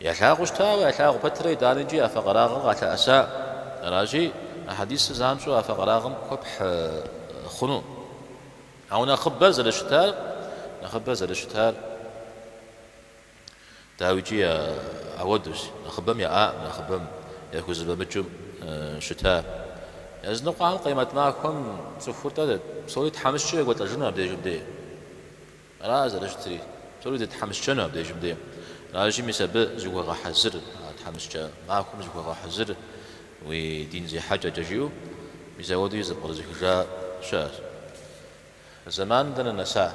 S1: Ялъагъуу щытауэ, ялъагъу пэтрэ итӏанэкӏи а факъырагъыр къалъэӏэса. Аращи, а хьэдисыр занщӏэу а факъырагъым хуэпхь хъуну. Ауэ нэхъыбэр зэрыщытар, нэхъыбэр зэрыщытар дауикӏи апхуэдэущ, нэхъыбэм яӏаӏым, нэхъыбэм яхузэфӏэмыкӏыу щыта. Языныкъуэхэм къемэт махуэм цӏыхур-тӏэ псори тхьэмыщкӏэ екӏуэлӏэжыну абдежым дей. Ара зэрыщытри? Псори дытхьэмыщкӏэну абдежым де. Аращи, мис абы зыхуэгъэхьэзыр, а тхьэмыщкӏэ махуэм зыхуэгъэхьэзыр уи дин зехьэкӏэкӏэ жиӏэу, мис апхуэдэуи зэпкърызыхыжа щыӏэщ. Зэманым дэнэ нэса?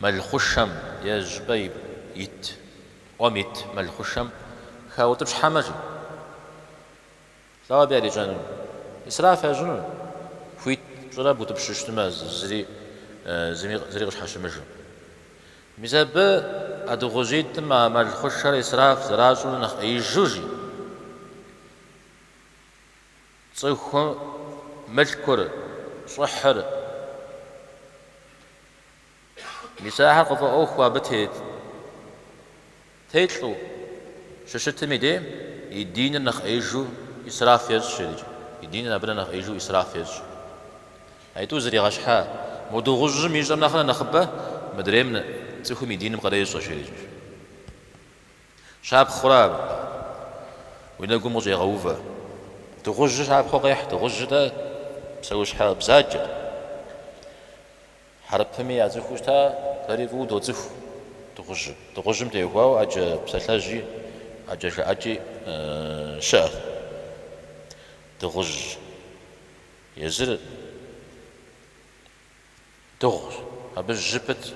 S1: Мэлхъушэм е щӏыпӏэ ит ӏуэм ит мэлхъушэм хаутӏыпщхьэмэ, жи? Слӏо абы ярищӏэнур, исраф ящӏынур, хуит пщӏырэ бутӏыпщу щытмэ зыри къыщхьэщымыжу. Мис абы а дыгъужьитӏым а мэлхъушэр исраф зэращӏыну нэхъ ӏеижу жи? Цӏыхум мылъкур, щӏыхьыр, мис ахэр къыфӏэӏуэхуу абы тет, телӏэу, щыщытым и дей и диныр нэхъ ӏеижу исраф ещӏ жиӏэрикӏ, и диныр абы нэ нэхъ ӏеижу исраф ещӏщ. А итӏу зригъэщхьа мо дыгъужьым ищӏэм нэхърэ нэхъыбэ мыдрейм цӏыхум и диным къырещӏэ жиӏэрикӏ. Щапхъэу ара? Уи нэгум къыщӏегъэувэ. Дыгъужьыр щапхъэу къехь, дыгъужьыр-тӏэ псэущхьэ бзаджэт. Хьэрыпыми яцӏыхуу щыта, дэри фӏыуэ доцӏыху дыгъужьыр. Дыгъужьым теухуауэ ӏэджэ псалъэжьи, ӏэджэ жыӏэкӏи щыӏэт. Дыгъужь езыр. Дыгъущ. Абы жьы пытщ.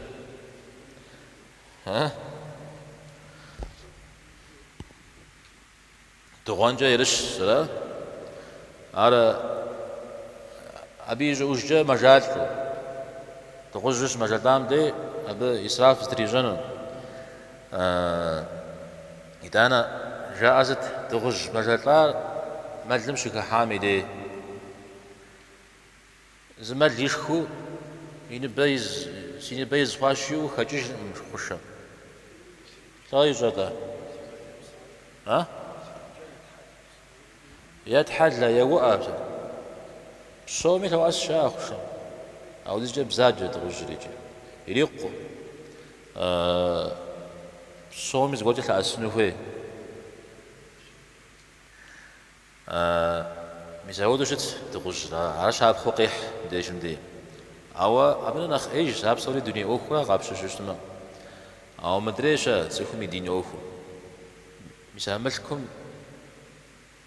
S1: Дыгъуэнкӏэ ерыщщ, зэра? Ар абы и щӏыӏужкӏэ мэжалӏэу. Дыгъужьыр щымэжэлӏам дей абы исраф зэтрищӏэнур. Итӏанэ жаӏэ сыт, дыгъужь мэжэлӏар мэлым щыхыхьам и дей. Зы мэл ишхыу, си ныбэ из хъуа жиӏэу хэкӏыжыркъым хъушэм. Лӏо ищӏэ-тӏэ? А? Етхьэлэ, еуӏэ. Псоми лъоӏэс, жаӏэ, хъушэм. Ауэдизкӏэ бзаджэ дыгъужьыр икӏи. Ирикъукъым. Псоми зыгуэркӏэ лъэӏэсыну хуей. А, мис ауэдэу щыт, дыгъужьыр, ар щапхъэу къехь мы дежым дей. Ауэ абынэ нэхъ ӏеижщ, ар псори дуней ӏуэхура къапщтэу щытмэ. Ауэ мыдрейр-щэ, цӏыхум и дин ӏуэхур. Мис а мылъкум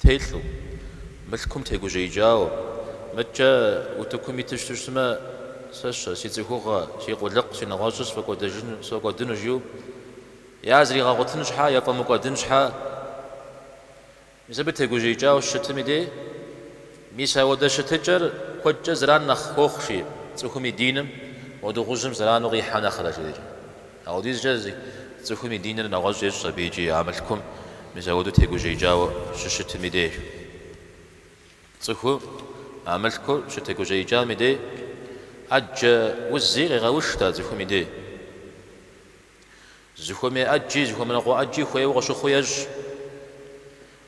S1: телӏэу, мылъкум тегужьеикӏауэ, мыдкӏэ утыкум иту щыту щытмэ, сэ-щэ, си цӏыхугъэ, си къулыкъу, си нэгъуэщӏыр сфӏэкӏуэдэжыну, сфӏэкӏуэдыну, жиӏэу, я зригъэгъуэтын щхьэ, я фӏэмыкӏуэдын щхьэ, Мис абы тегужьеикӏауэ щыщытым и де, мис ауэдэ щытыкӏэр куэдкӏэ зэран нэхъ хуохъу, жи, цӏыхум и диным, уэ дыгъужьым зэрану къихьэ нэхърэ жеӏэкӏэ. Ауэдизкӏэ, жи, цӏыхум и диныр нэгъуэщӏ ещӏ абы икӏи, а мылъкум мис ауэдэу тегужьеикӏауэ щыщытым и де. Цӏыхум а мылъкур щытегужьеикӏам и де, ӏэджэ узи къегъэуштэ цӏыхум и де. Зыхуэмей ӏэджи, зыхуэмыныкъуэ ӏэджи хуейуэ къыщыхъуу ещӏ.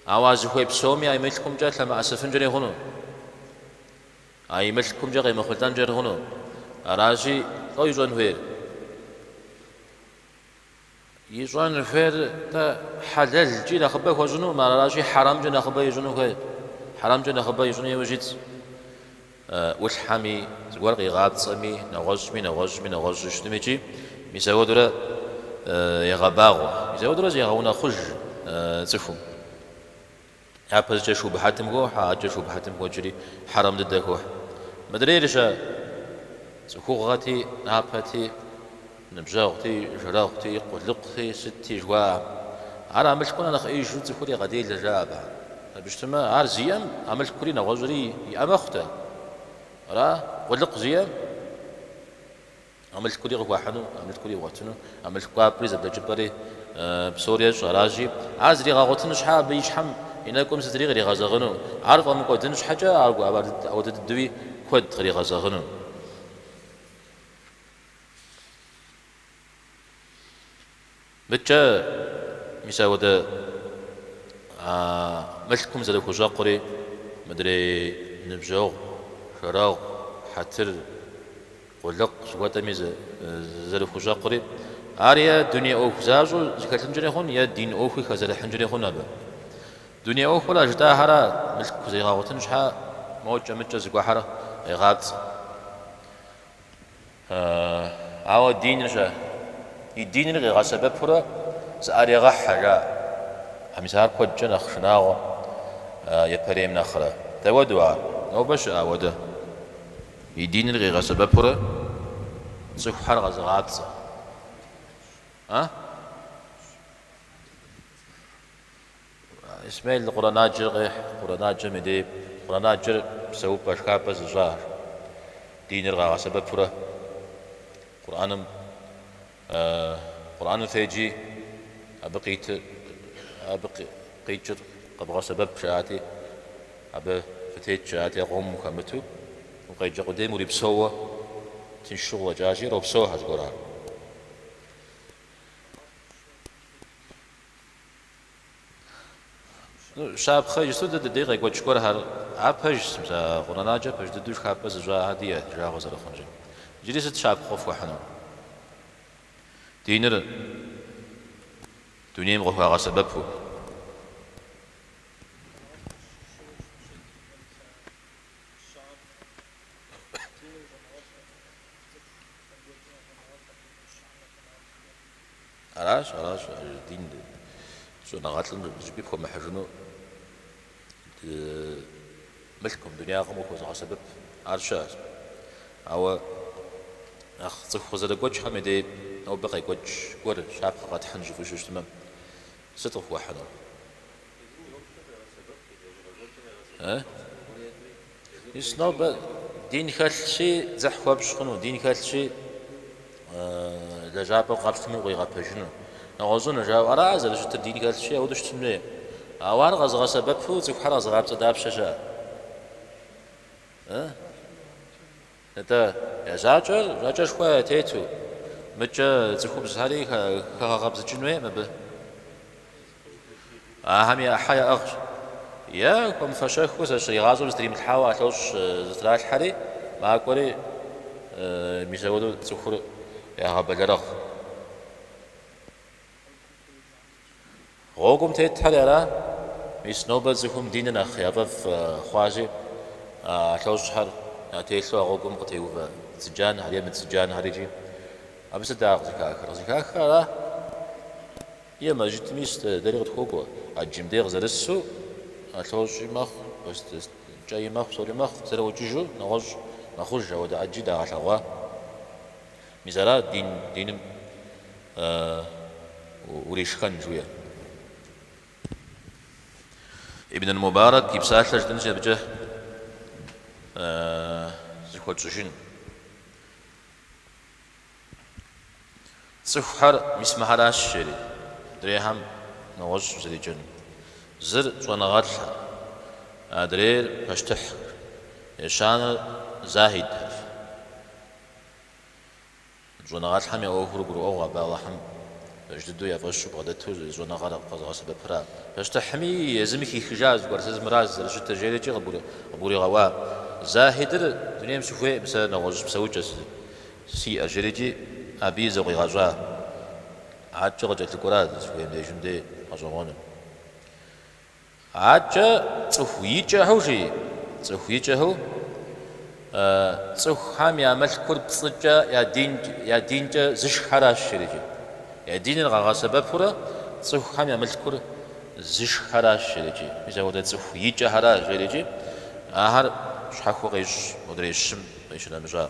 S1: Ауэ а зыхуей псоми а и мылъкумкӏэ лъэмыӏэсыфынкӏэри хъуну? А и мылъкумкӏэ къемыхъулӏэнкӏэри хъуну? Аращи, лӏо ищӏэн хуейр? Ищӏэн хуейр тэ хьэлэлкӏи нэхъыбэ хуэщӏынукъым, аращи, хьэрэмкӏэ нэхъыбэ ищӏыну хуей. Хьэрэмкӏэ нэхъыбэ ищӏыну иужь итщ. ӏулъхьэми, зыгуэр къигъапцӏэми, нэгъуэщӏми, нэгъуэщӏми, нэгъуэщӏу щытми икӏи мис ауэдэурэ егъэбагъуэ, мис ауэдэурэ зегъэунэхъуж цӏыхум. Япэщӏыкӏэ шубхьэтым хохьэ, адэкӏэ шубхьэтым хокӏри хьэрэм дыдэ хохьэ. Мыдрейр щэ цӏыхугъэти, напэти. Ныбжьэгъути, жэрэгъути, къулыкъути, сытти жыхуаӏэм, ар а мылъкур нэхъ ӏеижу цӏыхур егъэделэ жаӏэба? Абы щытмэ, ар зиӏэм а мылъкури нэгъуэщӏри иӏэ мэхъутэ. Ара къулыкъу зиӏэм а мылъкури къыхуахьыну, а мылъкури игъуэтыну, а мылъку кӏуапӏэри зэблэкӏыпӏэри псори ещӏ? Аращи, ар зригъэгъуэтын щхьэ абы и щхьэм и нэкӏум сытри къригъэзэгъыну, ар фӏэмыкӏуэдын щхьэкӏэ абы ауэдэ дыдэуи куэд къригъэзэгъыну. Мыдкӏэ, мис ауэдэу мылъкум зэрыхущӏэкъури, мыдрей ныбжьэгъу, жэрэгъу, хьэтыр, къулыкъ жыхуэтӏэми зэрыхущӏэкъури, ар е дуней ӏуэху защӏэу зэхэлъынкӏэри хъун, е дин ӏуэхуи хэзэрыхьынкӏэри хъун абы. Дуней ӏуэхур а жытӏахэр мылъку зэригъэгъуэтын щхьэ, мокӏэ-мыкӏэ зыгуэхьэр къегъапцӏэ. Ауэ диныр щэ? И диныр къигъэсэбэпурэ зыӏэрегъэхьэ, жаӏэ. А мис ар куэдкӏэ нэхъ шынагъуэ, епэрейм нэхърэ. Дауэдэу ар? Нобэ щыӏэ ауэдэ. И диныр къигъэсэбэпурэ цӏыхухэр къэзыгъапцӏэ. А? Исмел Къурӏэнаджэр къехь, Къурӏэнаджэм и дей, Къурӏэнаджэр псэупӏэ шхапӏэ зыщӏахэр, диныр къагъэсэбэпурэ Къурӏэным феджи абы къитыр, абы къикӏыр къэвгъэсэбэп жаӏати, абы фытет жаӏати, а къомым ухэмыту, укъеджэ къудейм урипсэууэ тыншу къыщӏэкӏащи, ропсэухьэ зыгуэрар. Щапхъэ иджыпсту дэ дыдей къекӏуэкӏ гуэрхэр ар пэжщ, мис а Къурӏэнаджэр пэж дыдэу шхапӏэ зыщӏахэр диӏэ ди жагъуэ зэрыхъункӏэ. Иджыри сыт щапхъэ къыфхуэхьынур? Диныр дунейм къыхуагъэсэбэпу. Аращ, аращ, дин щӏэныгъэлӏым зыщӏыпӏи пхуэмыхьыжыну мылъкум, дунягъэм къыхуэзыгъэсэбэп, ар щыӏэщ. Ауэ нэхъ цӏыху къызэрыгуэкӏхэм и дей нобэ къекӏуэкӏ гуэр щапхъэ къэтхьын жыфӏэу щытмэ, сыт къыфхуэхьынур? Мис нобэ дин хэлъщи, дзыхь хуэпщӏ хъуну, дин хэлъщи, лэжьапӏэм къэпщтэмэ укъигъэпэжыну, нэгъуэщӏыну, жаӏэу ара зэрыщытыр, дин хэлъщи, ауэдэу щытын хуей. Ауэ ар къэзыгъэсэбэпу цӏыхухэр къэзыгъапцӏэ дапщэ щыӏэ? Атӏэ, я закӏэр закӏэшхуэ тету, мыдкӏэ цӏыхубзхэри хэгъэгъэбзыкӏын хуейӏым абы. Ахэм я ӏыхьэ яӏыгъщ. Е хуэмыфэщэххэу зэи игъащӏэм зытримылъхьауэ алъощӏ зытралъхьэри, макӏуэри, мис ауэдэу цӏыхур ягъэбэлэрыгъ. Гъуэгум тетхэр ара? Мис нобэ цӏыхум диныр нэхъ яфӏэфӏ хъуащи, ӏэлъэщӏхэр ятелъу а гъуэгум къытеувэ цыджанхэр е мыцыджанхэр икӏи абы сыт дэ ар къызыхахыр? Къызыхахыр ара? Е мэжджыт, мис дэри къытхуокӏуэ, ӏэджым дей къызэрысу, ӏэлъэщӏи мэхъу, кӏэи мэхъу, псори мэхъу, зэрыӏукӏыжу нэгъуэщӏ мэхъуж, ауэдэ ӏэджи дагъэлъэгъуа? Мис ара дин диным уришхэн жуиӏэр? Ибн аль-Мубарак и псалъэ жытӏэнщи абыкӏэ зэхуэтщӏыжын. Цӏыхухэр мис мыхэращ жери, адрейхэм нэгъуэщӏу зэреджэнум. Зыр щӏэныгъэлӏхэр, адрейр пащтыхьхэр, ещанэр захьидхэр. Щӏэныгъэлӏхэм я ӏуэхур гурыӏуэгъу абы Алыхьым пэж дыдэу я фӏэщу бгъэдэту зы щӏэныгъэр абы къэзыгъэсэбэпыра? Пащтыхьми езыми хихыжа зыгуэр сэ зымыраз зэрыщытыр жерикӏи къыбгуригъэӏуа? Захьидыр дунейм сыхуейкъым сэ нэгъуэщӏ псэукӏэ сиӏэщ жерикӏи абы и зэ къигъэщӏа? Адэкӏэ къыкӏэлъыкӏуэра дызыхуейм дежым дей гъэщӏэгъуэну? Адэкӏэ цӏыху икӏэхэу жи, цӏыху икӏэхэу, цӏыхухэм я мылъкур пцӏыкӏэ я динкӏэ зышххэращ жерикӏи, я диныр къагъэсэбэпурэ цӏыхухэм я мылъкур зышххэращ жерикӏи, мис апхуэдэ цӏыху икӏэхэращ жерикӏи, ахэр щхьэхуэ къещӏ модрей щым къищынэмыщӏа.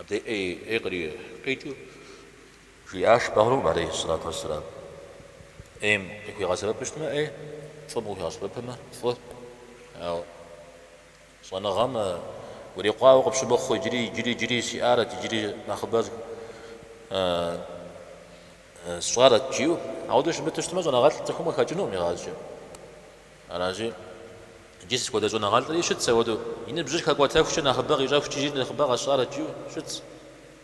S1: Абдеи ӏей къри къикӏыу жиӏащ Бегъымбарым алейхи ссалату уэсселам, ӏейм къыхуигъэсэбэпу щытмэ ӏей, фӏым къыхуигъэсэбэпымэ фӏы. Ауэ щӏэныгъэм урикъуауэ къыпщымыхъу, иджыри, иджыри, иджыри сиӏарэт, иджыри нэхъыбэр сщӏарэт жиӏэу, ауэдэу щымыту щытмэ щӏэныгъэлӏ цӏыхум къыхэкӏынукъым игъащӏэкӏэ. Аращи, иджы сыт хуэдэ щӏэныгъэлӏри щытт ауэдэу. И ныбжьыр хэкӏуэтэхукӏэ нэхъыбэ къищӏэхукӏи иджыри нэхъыбэ къэсщӏарэт жиӏэу щытт.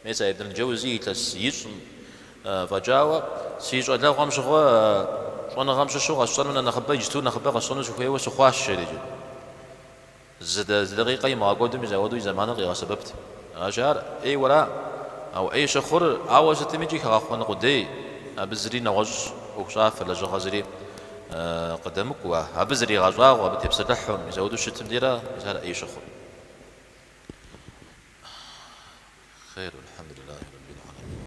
S1: Мис а Ибн аль-Джэузи илъэс хыщӏым фӏэкӏауэ, си щӏалэгъуэм щыгъуэ щӏэныгъэм щыщу къэсщӏэну нэ нэхъыбэ иджыту нэхъыбэ къэсщӏэну сыхуейуэ сыхъуащ, жери. Зы дакъикъэ имыгъэкӏуэду мис ауэдэу и зэманыр къигъэсэбэпт. Аращи, ар ӏейуэ ара? Ауэ ӏей щыхъур, ауэ сытми икӏи хэгъэхъуэн къудей, абы зыри нэгъуэщӏ, ӏуэхущӏафэ, лэжьыгъэ зыри къыдэмыкӏуэ, абы зригъэщӏагъуэу, абы тепсэлъыхьу мис ауэдэу щытым дейра, мис ар ӏей щыхъур.